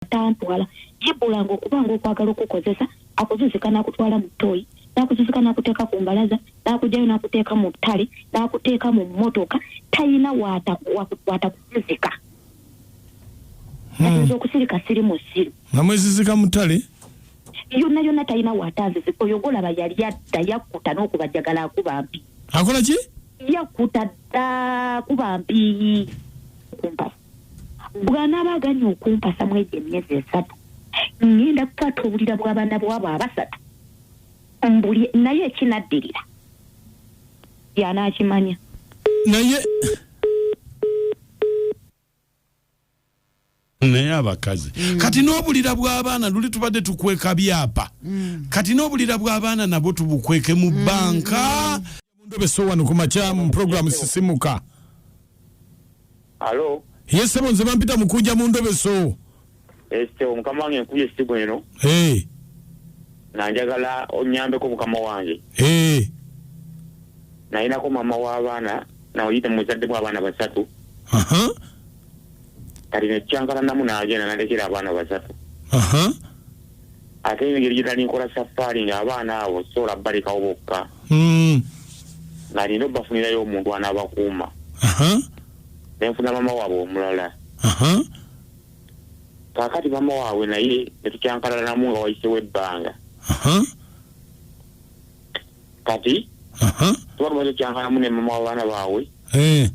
atantwala jibula nga okuba nga okwagala okukozesa akuzuzika nakutwala mu toyi nakuzuzika nakuteeka ku mbalaza nakujayo nakuteeka mu ttale nakuteeka mu mmotoka talina watakuzuzika hmm. ayinza okusirika siri mu siru nga mwezizika mu ttale yonna yonna talina watanzizi oyo golaba yali adda yakkuta n'okubajagala akuba mpi akola ki yakkuta dda kuba mpi kumpasi bw'anaaba aganye okumpasa mu egyo emyezi esatu ŋŋenda kukwata obulira bw'abaana bwabo abasatu mbuli naye ekinaddirira y'anaakimanya naye naye abakazi mm. kati n'obulira bw'abaana luli tubadde tukweka byapa mm. kati n'obulira bw'abaana nabwo tubukweke mu mm. banka mm. mundobeso wano ku makya mu pulogulaamu sisimuka alo yesebo nze bampita mukunja mu ndobeso ekitebo mukama wange nkubye esimu eno Eh, nga njagala onyambeko mukama wange eh, nalinako maama w'abaana naoyite muzaddemu abaana basatu aha, kati nekyankalanamu nagenda nalekera abaana basatu aha. ate engeri gye nali nkola safaari ng'abaana abo sobola balekawo bokka hmm. nga nina obafunirayo omuntu anabakuuma nenfuna mama waabwe omulala kakati mama waabwe naye netukyankalanamu nga wayisewo ebbanga kati tuba tumaze okyankalanamu ne mama wabaana baabwe eh.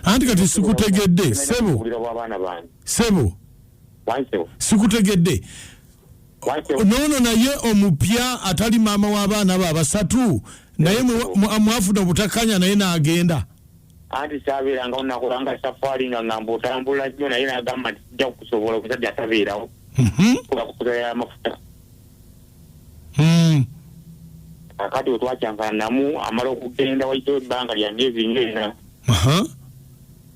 anti kati sikutegedde sebo sebo sikutegedde noono naye omupya atali maama w'abaana be abasatu naye mwafuna obutakkanya naye n'agenda anti sabeeranga onakulanga safaari nga ngamba otambula nnyo naye nagamba nti kijja kukusobola omusajja atabeerawo mhm. kubakukuza yamafuta hmm. kakati wetwakyankana namu amala okugenda waitawo ebbanga lya myezi nyo ena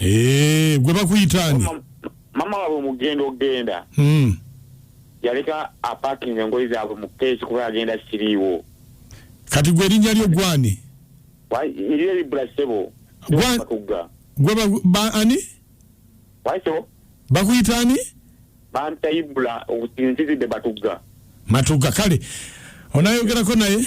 Eh, gwe bakuyitaani mama wabwe mugenda okugenda hmm. yaleka apakinga engoyi zaabwe mu keesi kuba yagenda siriiwo kati gwe erinnya lyo gwani eriyo eribula ssebo matugga gwe ani waisebo bakuyita ani bampita ibula nzizidde batugga matugga kale onayogerako naye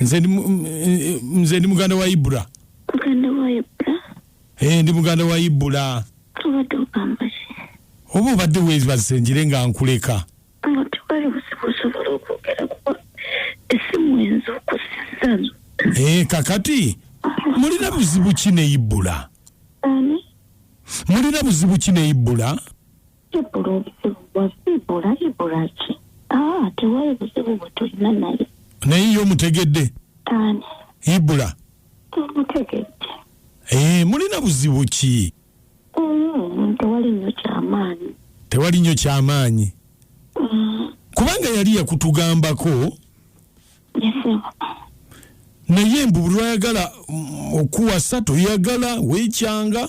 nze ndi muganda wa ibura eh, ndi muganda wa ibura oba obadde webaze njire nga nkuleka eh, kakati mulina buzibu ki ne ibula mulina buzibu ki ne ibula Ibula obuzibu bwa ibula ibula ki? Ah, tewali buzibu bwe tulina naye. Naye yo mutegedde? Ani? Ibula. Mutegedde. Eh, mulina buzibu ki? Mm, tewali nnyo kyamaanyi. Tewali nnyo kyamaanyi. Mm. Kubanga yali yakutugambako. Yes, sir. naye mbu lwayagala mm, okuwasa toyagala wekyanga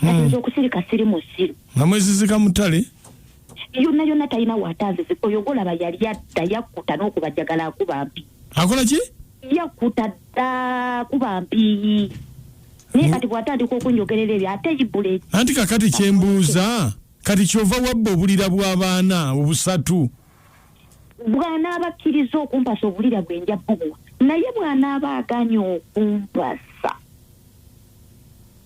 kati hmm. nze okusirika siri musiru nga mwezizika mutale yonna yonna talina watanzizi oyo golaba yali adda yakkuta n'okubajagala akuba mpi akola ki yakkuta dda kuba mpiyi naye kati bwatandika okunjogerera ebyo ate ibule anti kakati kyembuuza kati kyova wabba obulira bw'abaana obusatu bw'anaaba akkiriza okumpasa obulira bwe nja bubuwa naye bw'anaaba aganye okumpasa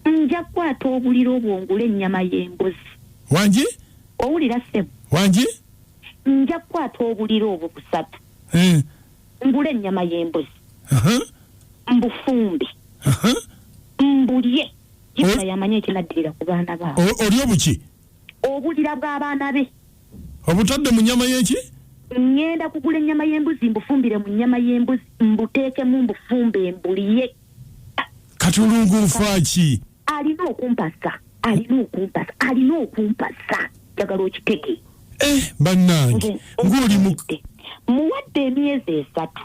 nja kukwata obulira obwo ngula ennyama y'embuzi wangi owulira ssebo wangi nja kukwata obulira obwo busatu eh. ngula ennyama y'embuzi mbufumbi mbulye yamanya ekinaddirira ku baana baabo oli obuki obulira bw'abaana be obutadde mu nyama y'eki ŋŋenda kugula ennyama y'embuzi mbufumbire mu nnyama y'embuzi mbuteekemu mbufumbe mbuliye kati olungu nfaaki alina okumpasa alina okumpasa alina okumpasa njagala okiteke eh, bannange ng'oli muwadde emyezi esatu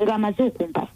ng'amaze okumpasa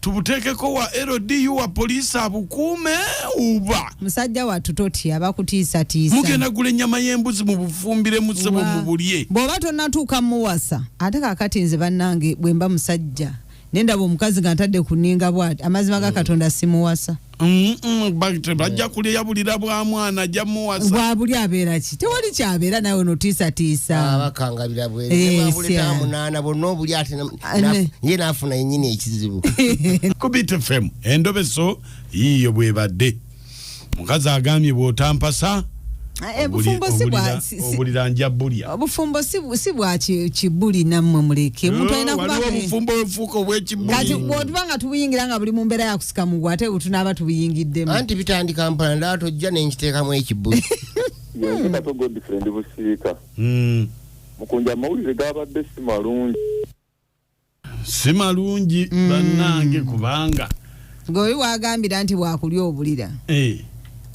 tubuteekeko wa LDU wa poliisi abukuume uba musajja wattu totya bakutiisatiisa mugenda gula ennyama y'embuzi mu bufumbire mu ssebo mu bulye bw'oba tonnatuuka muwasa ate kakati nze bannange bwe mba musajja nendaba omukazi nga ntadde kuninga bwati amazima ga mm. katonda simuwasa Mm, mm, bajja kulya yabulira bwa mwana ajja muwasa bwabuli abeera ki tewali kyabeera nawe notiisatiisa ah, bakangalira bwemunaana eh, bonna obuli ate ye naafuna yenyini ekizibu kubitfm endobeso yiiyo bwebadde mukazi agambye bwotampasa Ah, eh, obulira- bufumbo si bwa obulira- si- si- obulira nja bulya obufumbo si bu- si bwa ki- kibuli nammwe muleke omuntu alina kuba waliwo ne- obufumbo obufuuka kati obwekibuli bwotuba nga tubuyingira nga buli mu mbeera ya kusika mugwa ate butunaaba tubuyingiddemu anti bitandika mpala ndaba tojja nenkiteekamu ekibuli yenze kato godfrey ndi busiika Mm. mukunja amawulire gabadde si malungi si malungi mm. bannange kubanga gweoli wagambira nti bwakulya obulira eh.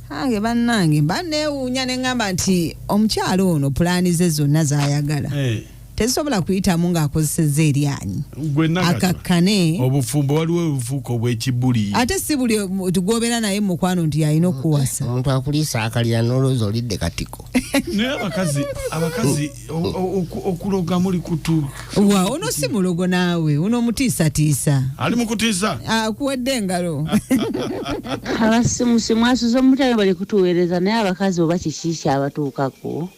ange bannange mba neewuunya ne ŋŋamba nti omukyalo ono pulaani ze zonna zayagala eh. tezisobola kuyitamu ng'akozeseza eryanyi akakkane obufumbo waliwo obufuuka obwekibuli ate si buli gwobera naye mukwano nti yalina okuwasa omuntu akuliisa akalira nolowooza olidde katiko naye abakazi abakazi okuloga muli kutu wa ono si mulogo naawe uno mutiisatiisa ali mukutiisa akuwadde engalo abasimusi mwasuza omutale bali kutuweereza naye abakazi oba kikiiki abatuukako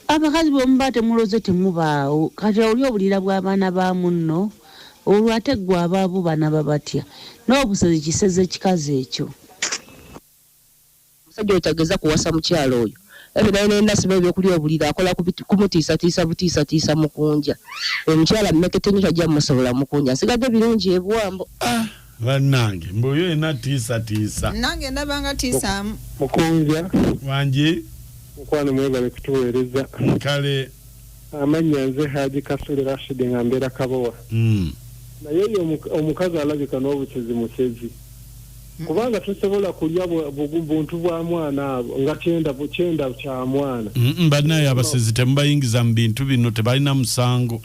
abakazi bwemuba temuloze temubaawo kati oli obulira bw'abaana ba munno olwo ate ggwe abaabu banaba batya n'obusezi kiseze ekikazi ekyo Omusajja oyo tageza kuwasa mukyala oyo Ebe naye ne nasiba ebyokulya obuliri akola kumutiisatiisa butiisatiisa mukunja oyo mukyala mmekete nnyo tajja musobola mukunja nsigadde birungi ebuwambo. Ah bannange mbu oyo yena tiisa tiisa. Nange ndaba nga tiisaamu. Mukunja. Wangi. Mukwano mwebale kutuweereza. Kale. Amannya nze Haji Kasule Rashid nga mbeera Kabowa. Mm. Naye oyo omukazi alabika n'obukyezi mukyezi. kubanga tosobola kulya buntu bwa mwana abo nga kyenda kyenda kya mwana banaye abasezi temubayingiza mu bintu bino tebalina musango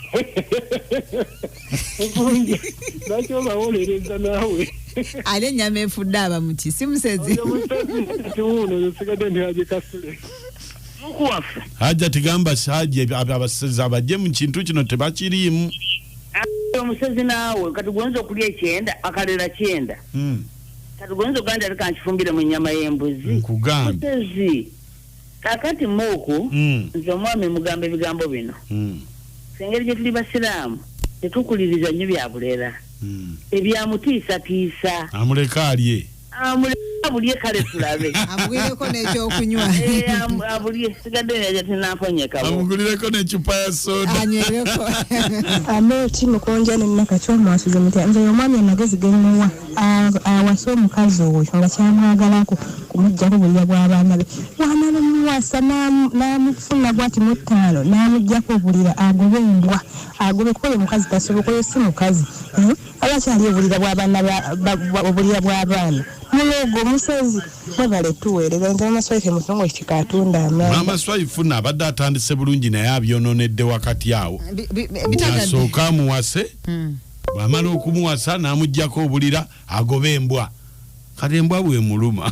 lwaki obawolereza naawe ale enyama efudde aba muki si musezi hajja tigamba hajja abasezi abajje mu kintu kino tebakiriimu omusezi naawe kati gwoyinza okulya ekyenda akalera kyenda mm. kati goyinza oganda leka nkifumbire mu nyama y'embuzi nkugambutezi kakati muuku mm. nze omwami mugamba ebigambo bino mm. engeri gye tuli basiraamu tetukuliriza nnyo bya bulera mm. ebyamutiisatiisa amuleka alye amuleka bulye kale tulabe amugireko n'ekyokunywa eh, abulye sigadde neja tinakonyeka amugulireko necupa ya soda anywereko ameti mukonja ne maka kyomwasuze mutya nze omwami amagezi gemuwa awasa omukazi oyo nga kyamwagalako kumuggyako bulira bw'abaana be wamala omuwasa n'amufuna bwati mu ttaano n'amuggyako obulira agobe embwa agobe kuba oyo mukazi tasoboka oyo si mukazi hmm? abakyali obulira bwabana obulira bwabaana mulogo musezi mwebale tuweereza nze mama swaife musongo kika atunda amaanyi mama swaifu naabadde atandise bulungi naye abyononedde wakati awo asooka amuwase hmm. bwamala okumuwasa n'amugjako obulira agoba embwa kati embwa bwemuluma